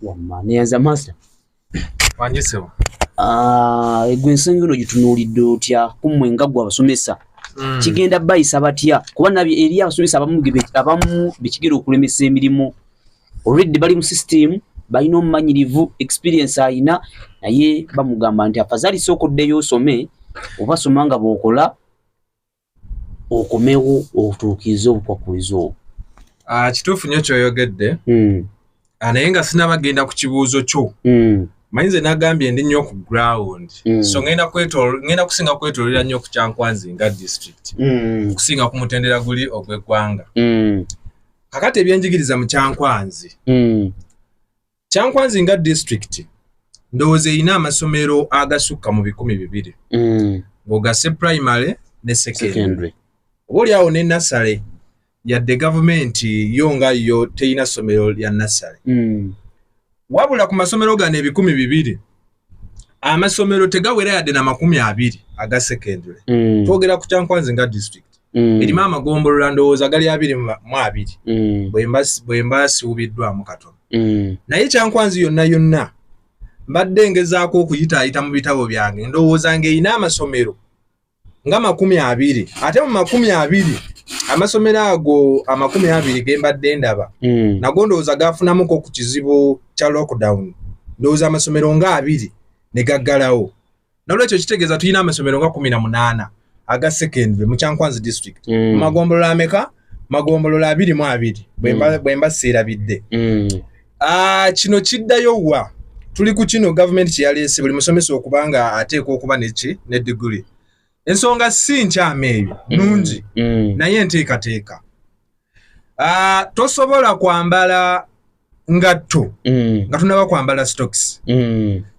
wamma neyanza master wanjisewo ah, egwe ensonga eno gitunuulidde otya kummwe nga gwe abasomesa hmm. kigenda bayisa batya kuba nabyo eri abasomesa abamu abamu bekigera okulemesa emirimu already bali mu system balina omumanyirivu experience alina naye bamugamba nti afazali sooka oddeyo osome obasoma nga bwokola okomewo otuukirize obukwakkulizo obwo ah, kituufu nyo kyoyogedde hmm. ah, naye nga sinabagenda ku kibuuzo kyo hmm. manyi nze nagambye ndi nnyo ku ground mm. so ngenda ngenda kusinga kwetolera nnyo ku kyankwanzi nga district mm. kusinga ku mutendera guli ogw'eggwanga mm. kakati ebyenjigiriza mu kyankwanzi mm. kyankwanzi nga district ndowooza erina amasomero agasukka mu bikumi bibiri mm. ng'ogase primary ne secondary oba oli awo ne nasale yadde gavumenti yo nga yo terina ssomero lya nasale mm. wabula ku masomero gano ebikumi bibiri amasomero tegawera yadde na makumi abiri aga secondary mm. twogera ku kyankwanzi nga district mm. erimu amagombolola ndowooza gali abiri mu abiri mm. bwemba siwubiddwamu katono mm. naye kyankwanzi yonna yonna mbadde ngezaako okuyitaayita mu bitabo byange ndowooza ngaerina amasomero nga makumi abiri ate mu makumi abiri amasomero ago amakumi abiri gembadde ndaba mm. nago ndowooza gafunamuko ku kizibu kya lockdown ndowooza amasomero nga abiri ne gaggalawo nolwekyo kitegeeza tulina amasomero nga kumi na munaana aga secondary mu kyankwanzi district mm. mu magombolola ameka magombolola abiri mu abiri bwe mm. mbasiirabidde mm. Ah, kino kiddayo wa tuli ku kino gavumenti kyeyaleese buli musomesa okuba nga ateekwa okuba neki ne diguli ensonga si nkyama ebyo mm, nungi mm. naye enteekateeka ah, tosobola kwambala ngatto mm. nga tunaba kwambala stocks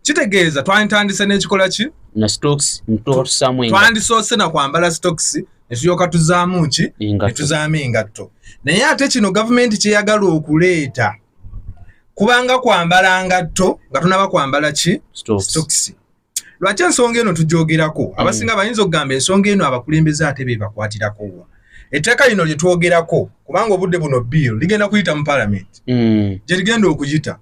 kitegeeza twanditandise n'ekikola ki twandisoose na kwambala stocks netulyoka tuzaamu ki netuzaamu engatto naye ate kino gavumenti kyeyagala okuleeta kubanga kwambala ngatto nga tunaba kwambala ki stokisi lwaki ensonga eno tugyogerako mm. abasinga bayinza okugamba ensonga eno abakulembeze ate bebakwatirako wa etteeka lino lyetwogerako kubanga obudde buno bill ligenda kuyita mu palamenti mm. gyerigenda okuyita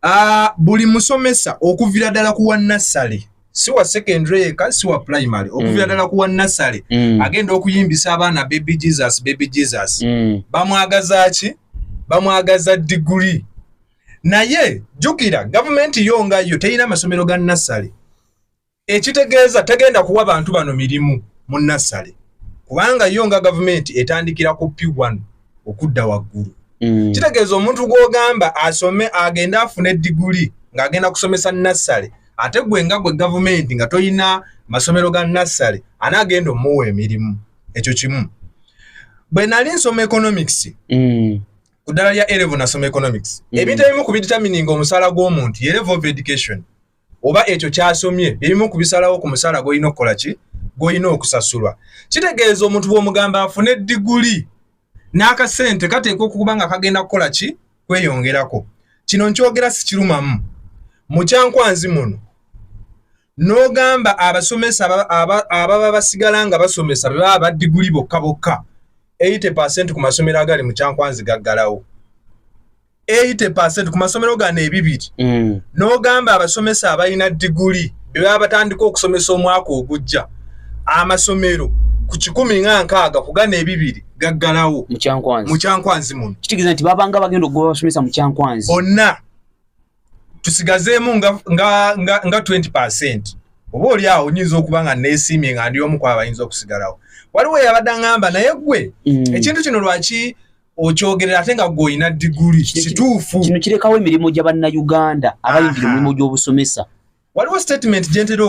Uh, buli musomesa okuvira ddala ku wannassale si wa secondary yeka si wa primary okuvira mm. ddala mm. ku wannassale mm. agenda okuyimbisa abaana baby jesus baby jesus mm. bamwagaza ki bamwagaza diguli naye jjukira gavumenti yo nga yo terina amasomero ga nassale ekitegeeza tagenda kuwa bantu bano mirimu mu nassale kubanga yo nga gavumenti etandikira ku p1 okudda waggulu mm. kitegeeza omuntu gw'ogamba asome agende afune diguli ng'agenda kusomesa nassale ate gwe nga gwe gavumenti nga tolina masomero ga nassale anaagenda omuwa emirimu ekyo kimu bwe nali nsoma economics mm. ku ddala lya elevo nasoma economics mm. ebintu ebimu ku bitamininga omusaala gw'omuntu yerevo of education oba ekyo kyasomye ebimu ku bisalawo ku musaala gw'olina okukola ki gw'olina okusasulwa kitegeeza omuntu bw'omugamba afune diguli n'akasente kateekwa okuba nga kagenda kukola ki kweyongerako kino nkyogera sikirumamu mukyankwanzi muno n'ogamba abasomesa ababa basigala nga basomesa be baba badiguli bokka bokka 80 ku masomero agali mukyankwanzi gaggalawo 80% ku masomero gano ebibiri mm. n'ogamba abasomesa abalina diguli bebaba batandika okusomesa omwaka ogujja amasomero ku kikumi nga nkaaga kugana ebibiri gaggalawo mukyankwanzi muno kitegeeza nti babanga bagenda okugoba abasomesa mukyankwanzi bonna tusigazeemu nga, nga, nga, nga 20 percent oba oli awo nyinza okuba nga neesiimye nga ndi omu kwaba ayinza okusigalawo waliwo yabadde aŋamba naye gwe mm. ekintu kino lwaki okyogerera ate nga gweolina diguli kituufu kino kirekawo emirimu gya bannayuganda abayingira emirimu gy'obusomesa waliwo statement gyentera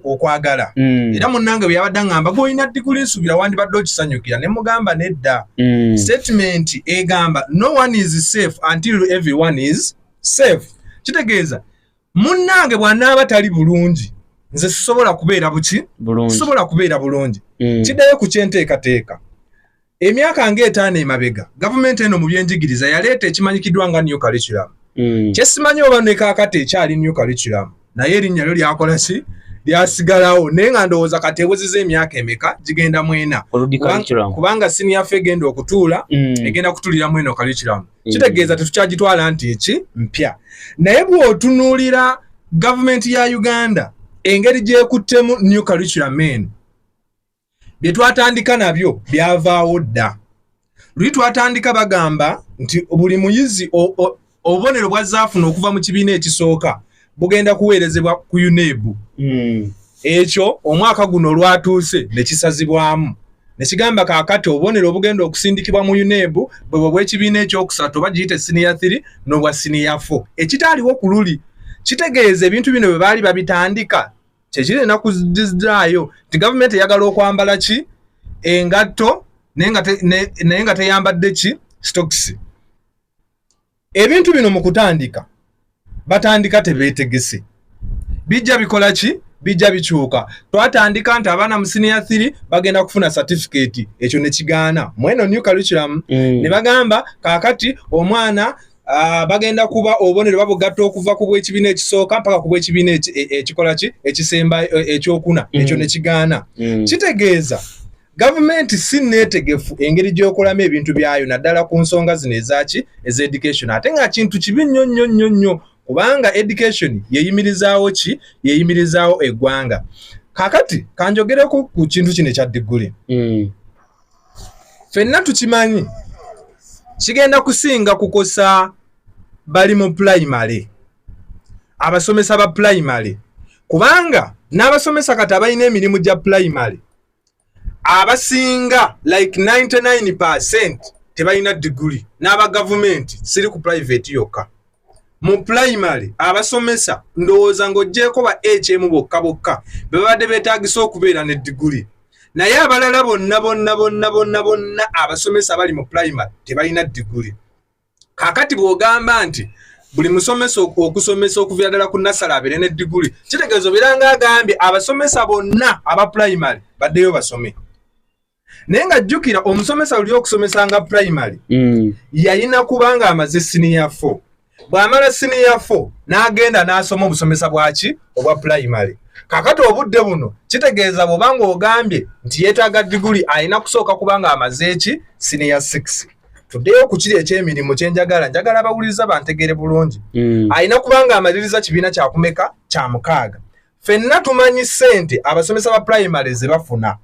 okwagala mm. era munange byeyabadde ngamba gweolina diguli nsuubira wandibadde okisanyukira ne mugamba nedda mm. statement egamba no one is safe until every one is safe kitegeeza munnange bwanaaba tali bulungi nze sisobola kubeera buki sisobola kubeera bulungi mm. kiddayo ku kyenteekateeka emyaka ng'etaano emabega gavumenti eno mu byenjigiriza yaleeta ekimanyikiddwa nga new curriculum mm. kyesimanyi oba nekakati ekyali new curriculum naye erinnya lyo lyakola ki lyasigalawo naye nga ndowooza kati eweziza emyaka emeka gigenda mwena kubanga sini yaffe egenda okutuula mm. egenda kutulira mweno curriculum mm. kitegeeza tetukyagitwala nti eki mpya naye bw'otunuulira gavumenti ya uganda engeri gyekuttemu new curriculum eno bye twatandika nabyo byavaawo dda luli twatandika bagamba nti buli muyizi obubonero bwazzaafuna okuva mu kibiina ekisooka bugenda kuweerezebwa ku unebu hmm. ekyo omwaka guno olwatuuse ne kisazibwamu nekigamba kakati obubonero obugenda okusindikibwa mu unebu bwebwe bwekibiina ekyokusatu oba giyite siniya 3 nobwa siniya 4 ekitaaliwo ku luli kitegeeza ebintu bino bwe baali babitandika kyekirina kuzizaayo nti gavumenti eyagala okwambala ki engatto naye nga teyambadde ki stokisi ebintu bino mu kutandika batandika tebeetegese bijja bikola ki bijja bikyuka twatandika nti abaana mu siniya thiri bagenda kufuna satifiketi ekyo ne kigaana mweno new curriculum mm. ne bagamba kaakati omwana Ah, bagenda kuba obubonero babugatta okuva ku bw'ekibiina ekisooka mpaka ku bw'ekibiina e, ekikola ki ekisemba e, ekyokuna mm. ekyo ne kigaana mm. kitegeeza gavumenti si neetegefu engeri gy'okolamu ebintu byayo naddala ku nsonga zino ezaki eza education ate nga kintu kibi nnyo nnyo nnyo nnyo kubanga education yeyimirizaawo ki yeyimirizaawo eggwanga kakati kanjogere ku kintu kino ekya digguli mm. fenna tukimanyi kigenda kusinga kukosa bali mu pulayimale abasomesa ba pulayimale kubanga n'abasomesa kati abalina emirimu gya pulayimale abasinga like 99 percent tebalina diguli n'aba gavumenti siri ku purayiveti yokka mu pulayimale abasomesa ndowooza ng'oggyeeko ba hm bokka bokka be babadde beetaagisa okubeera ne diguli naye abalala bonna bonna bonna bonna bonna abasomesa abali mu pulayimale tebalina diguli kakati bw'ogamba nti buli musomesa okusomesa okuvira ddala ku nasala abeere ne diguli kitegeeza obeera nga agambye abasomesa bonna aba pulayimale baddeyo basome naye nga jjukira omusomesa luli okusomesanga primary mm. yalina kubanga amaze siniya fo bw'amala siniya fo n'agenda n'asoma obusomesa bwaki obwa primary kakati obudde buno kitegeeza bwobanga ogambye nti yeetaaga diguli alina kusooka kubanga amaze eki siniya 6 tuddeyo ku kiri eky'emirimu kye njagala njagala abawuliriza bantegeere bulungi mm. alina kubanga amaliriza kibiina kyakumeka kya mukaaga fenna tumanyi sente abasomesa ba primary zebafuna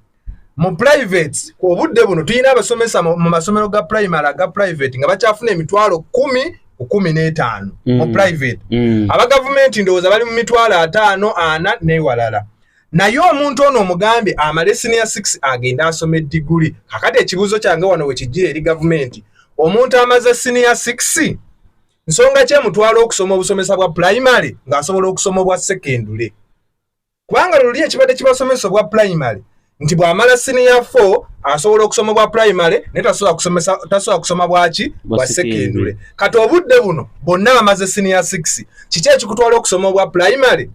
mu private obudde buno tulina abasomesa mu masomero ga primary aga private nga bakyafuna emitwalo kumi kumi n'etaano mm. mu private mm. aba gavumenti ndowooza bali mu mitwalo ataano ana newalala naye omuntu ono omugambye amale siniya 6 agenda asoma ediguli kakati ekibuuzo kyange wano wekijjira eri gavumenti omuntu amaze siniya 6 nsonga ki emutwala okusoma obusomesa bwa pulayimale ng'asobola okusoma obwa sekendule kubanga luli ekibadde kibasomesa obwa pulayimale nti bw'amala siniya fo asobola okusoma obwa pulayimale naye tasobola kusoma bwaki bwa sekendule kati obudde buno bonna amaze siniya six kiki ekikutwala okusoma obwa pulayimale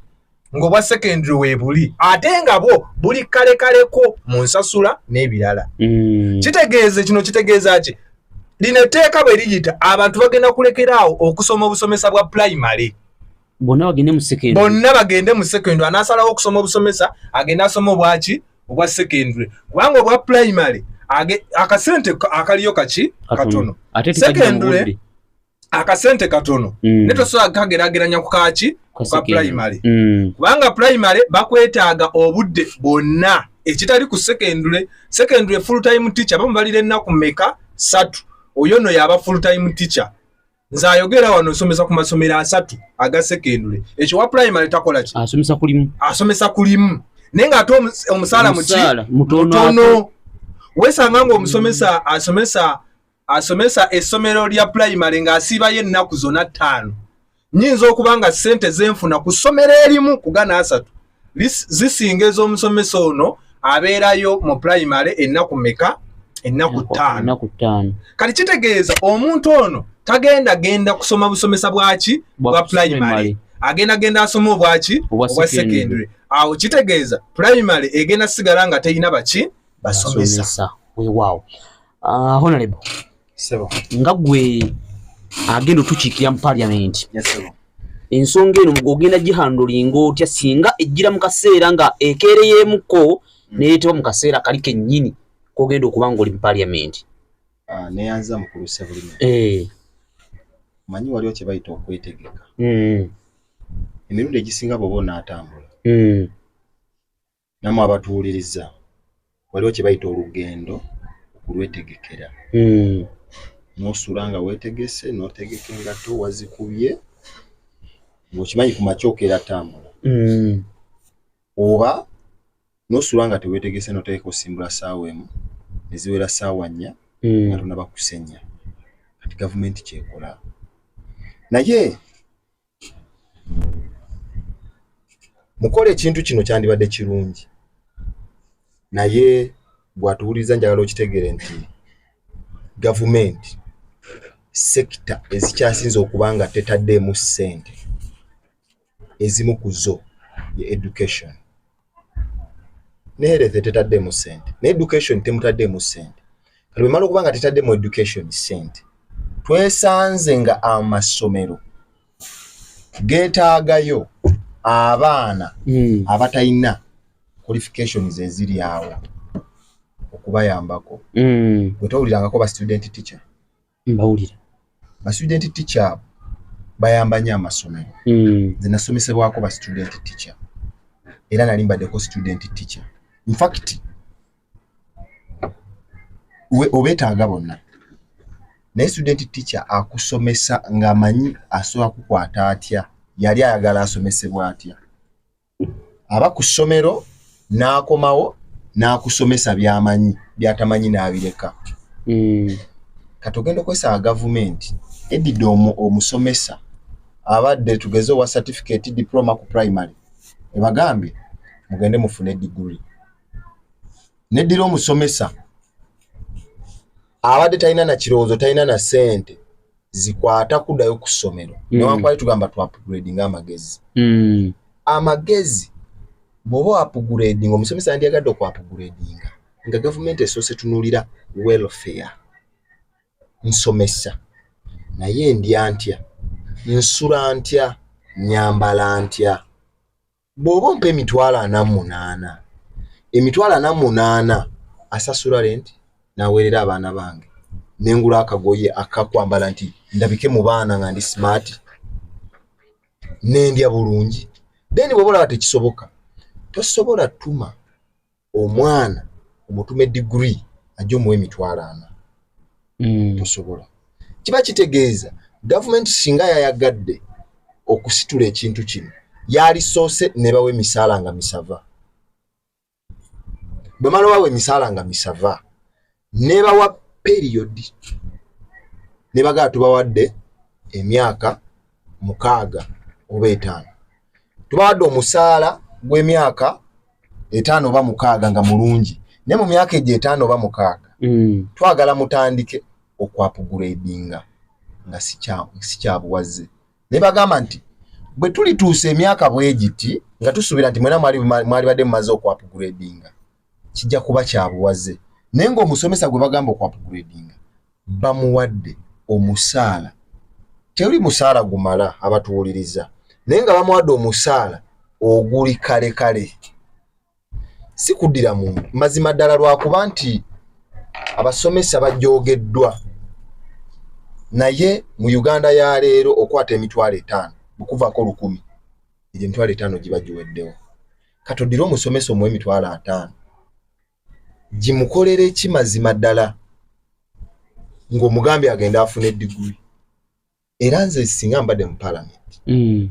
ng'obwa secondary weebuli ate nga bwo buli kalekaleko mu nsasula n'ebirala mm. kitegeeze kino kitegeeza ki lino etteeka bwe liyita abantu bagenda kulekeraawo okusoma obusomesa bwa primary bonna bagende mu secondary bonna bagende mu secondary anaasalawo okusoma obusomesa agende asoma obwaki obwa secondary kubanga obwa primary akasente akaliyo kaki katono secondary akasente katono mm. ne tosobola kukagerageranya ku kaki ku ka primary mm. kubanga primary bakwetaaga obudde bwonna ekitali ku secondary secondary full time teacher bamu balira ennaku meka satu oyo no yaba full time teacher nze ayogera wano nsomesa ku masomero asatu aga secondary ekyo wa primary takola ki asomesa kulimu asomesa kulimu naye nga ate omusaala muki mutono wesanga ngaomusomesa asomesa asomesa essomero lya pulayimale ng'asiibayo ennaku zona ttaano nyinza okuba nga ssente zenfuna ku ssomero erimu kugana asatu zisinga ez'omusomesa ono abeerayo mu pulayimale ennaku meka ennaku ttaano kati kitegeeza omuntu ono tagenda genda kusoma busomesa bwaki bwa pulayimale agenda genda asoma obwaki obwa secondary awo kitegeeza pulayimale egenda sigala nga terina baki basomesa wewaawo Ah, honorable sebo nga gwe agenda otukiikira mu parliament ensonga eno ogenda gihandulinga otya singa ejjira mu kaseera nga ekeereyeemuko hmm. neyetewa mu kaseera kali kennyini kogenda okuba nga oli mu parliament ah, neyanza mukulu sebulime eh. manyi waliwo kye bayita okwetegeka hmm. emirundi egisinga bwoba onaatambula hmm. namwe abatuwuliriza waliwo kyebayita olugendo okulwetegekera hmm. nosula nga wetegese notegeka engato wazikubye ngaokimanyi ku makyokeera tambula hmm. oba nosula nga tewetegese notegeka osimbula saawa emu neziwera saawa nnya hmm. nga tonabakusenya kati gavumenti kyekola naye mukola ekintu kino kyandibadde kirungi naye gwatuwuliriza njagala okitegere nti gavumenti sekita ezikyasinze okuba nga tetaddeemu ssente ezimu ku zo ye education ne health tetaddeemu ssente ne education temutaddeemu ssente kati bwemala okuba nga tetaddeemu education ssente twesanze nga amasomero geetaagayo abaana hmm. abatalina qualifications eziri awo okubayambako hmm. bwe towulirangako ba student teacher mbawulira ba student teacher abo bayamba nyo amasomero mm. nze nasomesebwako ba student teacher era nali mbaddeko student teacher infact obetaaga bonna naye student teacher akusomesa ng'amanyi asobola kukwata atya yali ayagala asomesebwa atya aba ku ssomero n'akomawo n'akusomesa byamanyi byatamanyi n'abireka hmm. kati ogenda okozesa gavumenti edidde omusomesa abadde tugeze owa certificate diploma ku primary ebagambye mugende mufune diguri neddira omusomesa abadde talina na kirowoozo talina na ssente zikwata kudayo ku ssomero mm. newankwali tugamba tu upgrading amagezi mm. amagezi bwoba wapgrading omusomesa yandyagadde oku upgrading nga gavumenti esoose tunulira welfare nsomesa naye ndya ntya nsula ntya nyambala ntya bw'oba ompa emitwalo ana mu munaana emitwalo ana mu munaana asasula renti naweerera abaana bange ne ngula akagoye akakwambala nti ndabike mu baana nga ndi simaati nendya bulungi then bw'oba olaba tekisoboka tosobola tuma omwana omutume digiri ajja omuwa emitwalo ana mm. tosobola kiba kitegeeza gavumenti singa yayagadde okusitula ekintu kino yalisoose ne bawa emisaala nga misava bwemala wawa emisaala nga misava nebawa period nebagaa tubawadde emyaka mukaaga oba etaano tubawadde omusaala gw'emyaka etaano oba mukaaga nga mulungi naye mu myaka egyo etaano oba mukaaga mm. twagala mutandike okwapuguredinga nga sikyabuwazze naye bagamba nti bwe tulituusa emyaka bwegiti nga tusuubira nti mwena mwali badde mumaze okwapuguredinga kijja kuba kyabuwaze naye ngaomusomesa gwe bagamba okwapgradinga bamuwadde omusaala tewuli musaala gumala abatuwuliriza naye nga bamuwadde omusaala oguli kale kale si kuddira mu mazima ddala lwakuba nti abasomesa bajoogeddwa naye mu uganda ya leero okwata emitwalo etaano bukuvako lukumi egyo emitwalo etaano giba giweddewo katodire omusomesa omuwa emitwalo ataano gimukolere ki mazima ddala ng'omugambi agenda afuna ediguli era nze singa mbadde mu palamenti hmm.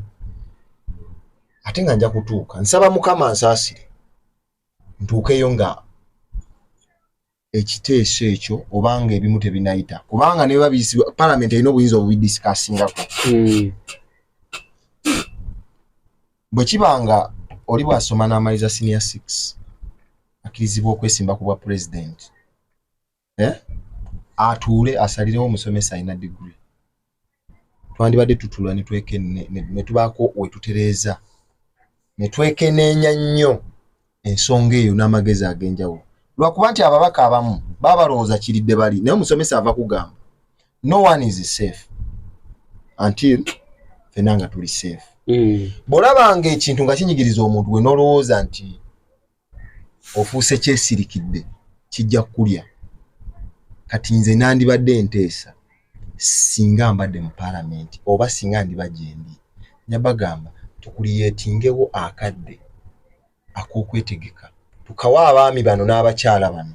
ate nga nja kutuuka nsaba mukama nsaasire ntuukeyo nga ekiteeso ekyo obanga ebimu tebinayita kubanga neba biyisibwa parliament erina obuyinza obubidisikasingaku hmm. bwe kiba nga oli bwasoma n'amaliza senior six akkirizibwa okwesimba ku bwa pulezidenti eh? atuule asalirewo omusomesa alina digiri twandibadde tutula ne tubaako we tutereeza ne twekeneenya nnyo ensonga eyo n'amagezi ag'enjawulo lwakuba nti ababaka abamu baba balowooza kiridde bali naye omusomesa ava kugamba no one is safe until fena nga tuli safe mm. bw'olabanga ekintu nga kinyigiriza omuntu we n'olowooza nti ofuuse kyesirikidde kijja kukulya kati nze nandibadde nteesa singa mbadde mu palamenti oba singa ndiba gyendi nyabagamba tukuliyetingewo akadde akokwetegeka tukawa abaami bano n'abakyala bano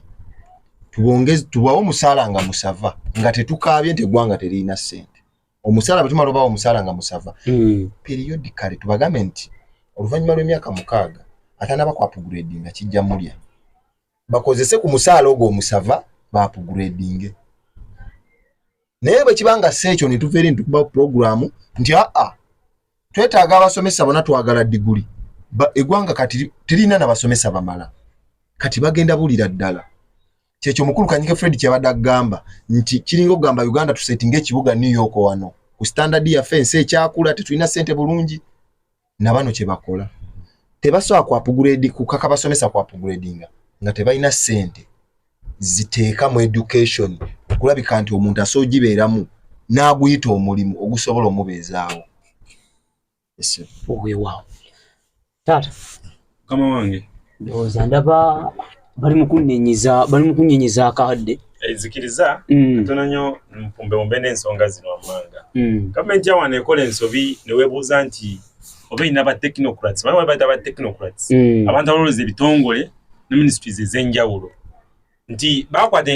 tubongezi tubawo omusaala nga musava nga tetukaabye nti eggwanga teririna ssente omusaala bwe tumala obawo omusaala nga musava hmm. periyodi kale tubagambe nti oluvannyuma lw'emyaka mukaaga atana bakwapuguredi nga kijja mulya bakozese ku musaala ogwo omusava baapuguredinge naye bwe kiba nga si ekyo ne tuva eri nitukuba puroguramu nti aa twetaaga abasomesa bona twagala diguli eggwanga kati terina na basomesa bamala kati bagenda bulira ddala kyekyo mukulu kanyike fred kyabadde agamba nti kiringa okugamba uganda tusetinga ekibuga new york wano ku standard yaffe ensi ekyakula tetulina sente bulungi nabano kyebakola tebasobola kuapuguredi kukaka basomesa kuapuguredinga nga tebalina sente ziteeka mu education okulabika nti omuntu asobola ogibeeramu n'aguyita omulimu ogusobola omubeezaawo weewaawo taata kama wange ndowooza ndaba bali mukunnenyiza bali mukunnenyiza akadde ezikiriza mm. tono nyo mpumbewumbe n'ensonga zino wammanga mm. gavumenti yawano ekola ensobi newebuuza nti oba erina ba technocrats baa baita ba technocrats mm. abantu abalowooza ebitongole ne ministries ez'enjawulo nti bakwata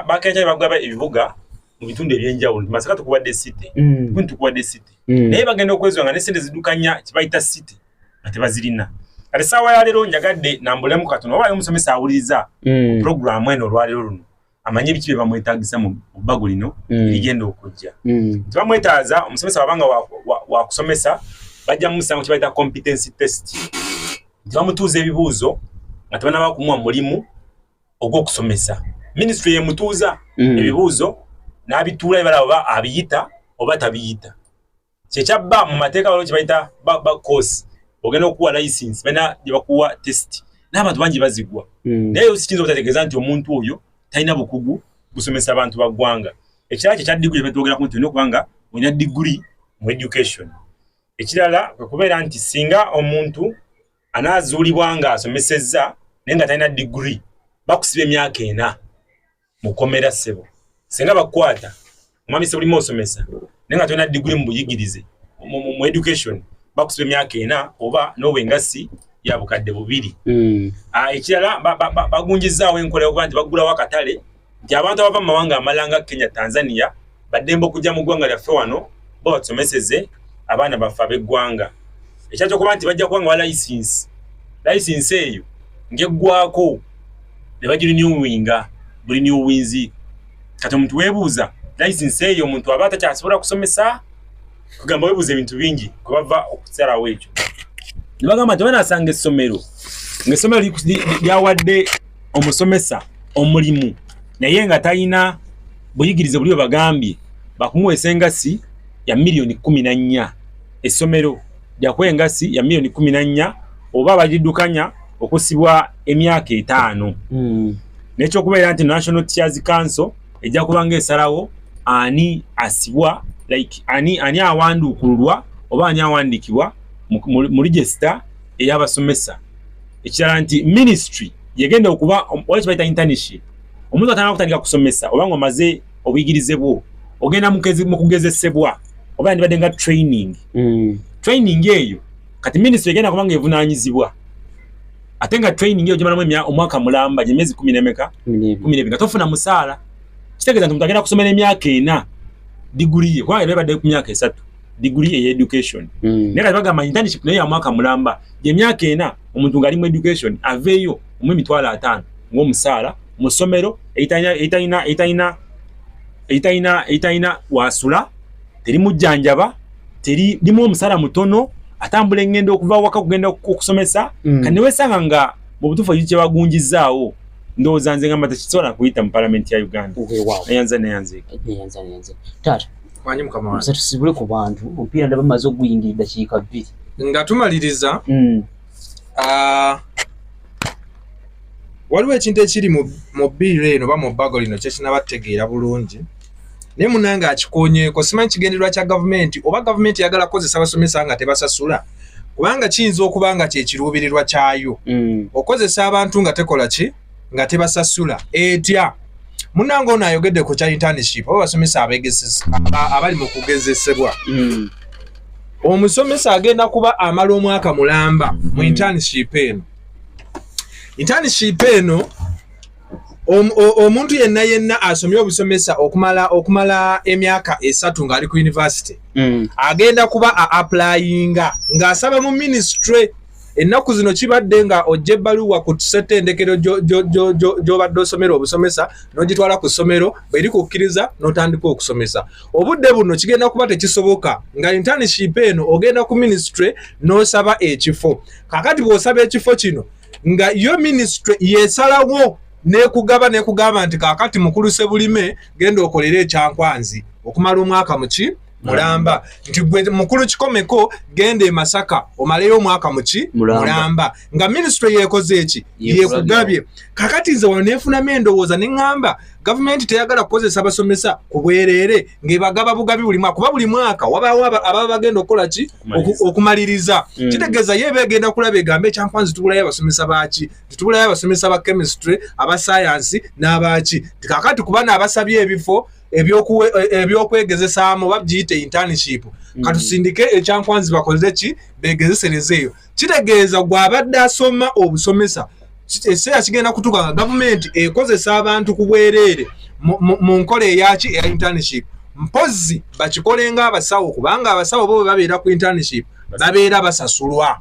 bakenta bagaba ebibuga mu bitundu ebyenjawulo nti masaka tukubadde city mm. kuni tukubadde city mm. naye bagenda okwezwa nga ne sente zidukanya kibayita city nga tebazirina kati saawa ya leero njagadde nambulemu katono oba omusomesa awuliriza mm. programu eno olwaleero luno amanye biki bye bamwetagisa mu bbago lino erigenda okujja nti bamwetaaza omusomesa wabanga wakusomesa bajja mumusanga kibayita competency test nti bamutuuza ebibuuzo nga tebanaba kumuwa mulimu ogw'okusomesa minisitule yemutuuza mm. ebibuuzo n'abituula ebala oba abiyita oba tabiyita kyekyabba mu mateeka waliwo kyebayita bakosi ogenda okuwa license balina gyebakuwa test n'abantu bangi bazigwa mm. naye sikiyinza obutategeeza nti omuntu oyo talina bukugu busomesa abantu ba ggwanga ekirala kyekya diguli kyebetwogerako nti olina okubanga olina diguli mu education ekirala kwekubeera nti singa omuntu anaazuulibwa ng'asomesezza naye nga talina digiri bakusiba emyaka ena mukomera ssebo singa bakukwata omwami sebulimu osomesa naye nga tolina digiri mu buyigirize mu education bakusiba emyaka ena oba n'oba engassi ya bukadde bubiri hmm. ah, ekirala bagunjizaawo enkola yokuba nti baggulawo akatale nti abantu abava mu mawanga amalala nga kenya tanzania baddembe okujja mu ggwanga lyaffe wano bo batusomeseze abaana baffe ab'eggwanga ekyakyokuba nti bajja kuba nga ba layisinsi layisinsi eyo ng'eggwako ne bagirinyuwinga buli niuwinzi kati omuntu weebuuza layisinsi eyo omuntu aba atakyasobola kusomesa kugamba webuuza ebintu bingi kwebava okusalawo ekyo ne bagamba nti banasanga essomero ngaessomero lyawadde omusomesa omulimu naye nga talina buyigirize buli webagambye bakumuwa esengasi ya miliyoni kumi na nnya essomero lyakuwa engasi ya miliyoni kumi na nnya oba bagiddukanya okusibwa emyaka etaano mm. nekyokubeera nti national tears council ejja kuba nga esalawo ani asibwa like ani ani awandukululwa oba ani awandikibwa mu register eyabasomesa ekirala nti ministry yegenda okuba oba kibayita internship omuntu atana kutandika kusomesa oba nga omaze obuyigirize bwo ogenda mu kugezesebwa oba yandibadde nga training mm. training eyo kati ministry egenda kuba nga evunanyizibwa ate nga training yo jimalamu emya omwaka mulamba jimezi 10 nemeka 10 nemeka tofuna musala kitegeza nti mutagenda kusomera emyaka ena degree ye kwa ebeba de kumyaka esatu degree ye education mm. nera baga ma internship naye ya mwaka mulamba je myaka ena omuntu ngali mu education aveyo mu mitwala atano ngo musala musomero eitanya eitanya eitanya eitanya wasula teri mujanjaba teri limu omusala mutono atambula engendo okuva waka kugenda okusomesa mm. kane wesanga nga mu butufu yiche bagunjizaawo ndoza nze ngamba takisobola kuyita mu parliament ya Uganda okay, wow. ayanza ne yanze ayanza ne yanze tata wanyi mukama wange tusibule ku bantu ompira ndaba mazo guyingirira kika bbi nga tumaliriza mm. ah, waliwo ekintu ekiri mu biiro eno oba mu bbago lino kyekinaba tutegeera bulungi naye munange akikoonyeeko simanyi kigendererwa kya gavumenti oba gavumenti yagala kukozesa basomesa nga tebasasula kubanga kiyinza okuba nga kyekiruubirirwa kyayo mm. okozesa abantu nga tekola ki nga tebasasula etya munange ono ayogedde ku kya internship oba basomesa abali mu kugezesebwa hmm. omusomesa agenda kuba amala omwaka mulamba mu hmm. internship eno internship eno omuntu yenna yenna asomye obusomesa okumala okumala emyaka esatu ng'ali ku university hmm. agenda kuba a applyinga ng'asaba mu ministry ennaku zino kibadde nga ojja ebbaluwa ku ssettendekero gy'obadde osomera obusomesa n'ogitwala ku ssomero bweri kukkiriza n'otandika okusomesa obudde buno kigenda kuba tekisoboka nga internship eno ogenda ku ministry n'osaba ekifo kakati bw'osaba ekifo kino nga yo ministry yesalawo nekugaba nekugamba nti kakati mukulu sebulime genda okolere ekyankwanzi okumala omwaka muki mulamba nti gwe mukulu kikomeko genda emasaka omaleyo omwaka muki mulamba nga minisitule yekoze eki yekugabye kakati nze wanefunamu endowooza neŋamba gavumenti teyagala kukozesa abasomesa ku bwereere ngaebagaba bugabi buli mwaka kuba buli mwaka wabawo ababa bagenda okukola ki okumaliriza mm. kitegeeza ye begenda kulaba egamba ekyankwanzi tubulayo abasomesa baki titubulayo abasomesa ba chemistry aba sayansi n'abaki kakati kuba naabasabye ebifo ebyokwegezesaamu e, oba bgiyite internship mm. katusindike ekyankwanzi bakoze ki begezesereza eyo kitegeeza gwabadde asoma obusomesa ekiseera kigenda kutuka nga gavumenti ekozesa abantu ku bwereere mu nkola eyaki eya internship mpozzi bakikole nga abasawo kubanga abasawo bo bebabeera ku internship babeera basasulwa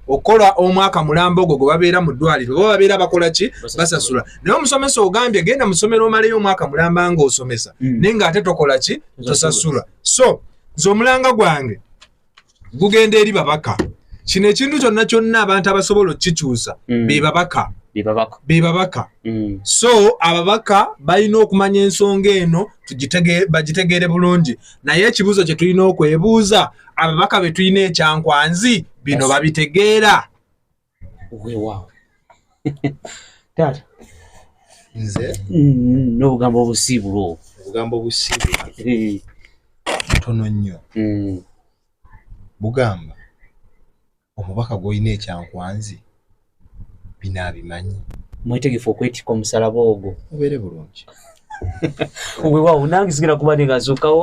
okukola omwaka mulamba ogwo gwe babeera mu ddwaliro bo babeera bakola ki basasula naye omusomesa ogambye genda musomero omaleyo omwaka mulamba nga osomesa mm. naye nga ate tokola ki tosasula so nze omulanga gwange gugenda eri babaka kino ekintu kyonna kyonna abantu abasobola okukikyusa mm. bebabaka bebabaka mm. so ababaka balina okumanya ensonga eno bagitegeere bulungi naye ekibuuzo kye tulina okwebuuza ababaka betulina ekyankwanzi bino babitegeera weewaawo taata nze mm-hmm. n'obugambo obusiibulu obwo obugambo obusiibulu eh. tono nnyo mm. bugamba omubaka gw'olina ekyankwanzi bino abimanyi mwetegefu okwetikka omusalaba ogwo mubeere bulungi weewaawo nange sigenda kuba ningazuukawo